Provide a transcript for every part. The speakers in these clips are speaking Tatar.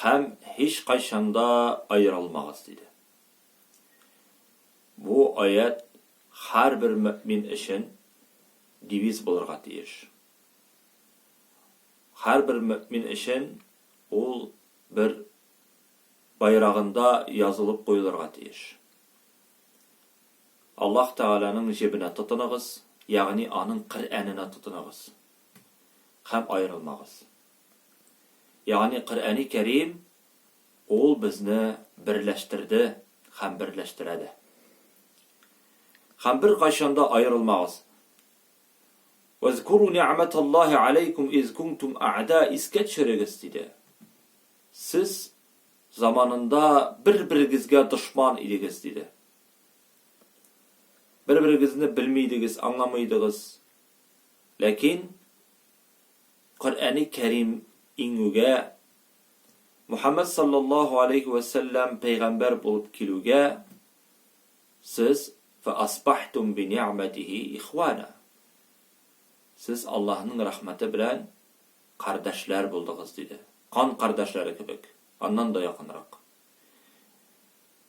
Һәм һичкайчан да аерылмагыз, диде. Бу аять һәрбер мөэмин өчен девиз булырга тиеш. Һәрбер мөэмин өчен ул бер байрагында язылып куелырга тиеш. Аллаһ Тәгаләнең җебенә тотыныгыз, ягъни аның Коръәненә тотыныгыз һәм аерылмагыз. Ягъни Коръәни Кәрим ул безне берләштерде һәм берләштерә дә. Һәм беркайчан да аерылмагыз. Вәзкуру ни'мәталлаһи аләйкүм из кунтум а'да искә төшерегез, диде. Сез заманында бер-берегезгә дошман идегез, диде. Бер-берегезне белми идегез, аңламый идегез. Ләкин Коръәни Кәрим иңүгә, Мөхәммәд салләллаһу галәйһи вә сәлләм пәйгамбәр булып килүгә, сез, фәасбахтум бини'мәтихи ихуана, сез Аллаһның рәхмәте белән кардәшләр булдыгыз, диде. Кан кардәшләре кебек, аннан да якынрак.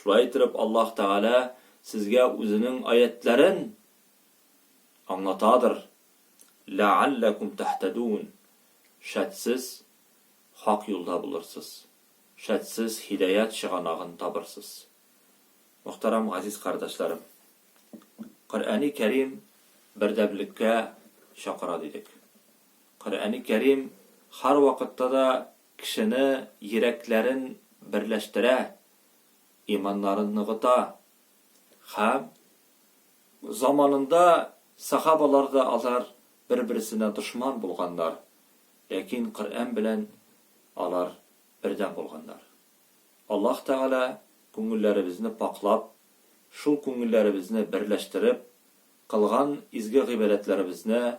Шулай итеп Аллаһ Тәгалә сезгә Үзенең аятьләрен аңлатадыр, ләәлләкүм тәһтәдүн, шәт сез хак юлда булырсыз, шәт сез һидаять чыганагын табырсыз. Мөхтәрәм газиз кардәшләрем! Коръәни Кәрим бердәмлеккә чакыра дидек. Коръәни Кәрим һәрвакытта да Кешене йөрәкләрен берләштерә, иманнарын ныгыта. Һәм заманында сахабалар да алар бер-берсенә дошман булганнар, ләкин Коръән белән алар бердәм булганнар. Аллаһ Тәгалә күңелләребезне пакьлап, шул күңелләребезне берләштереп, кылган изге гыйбадәтләребезне,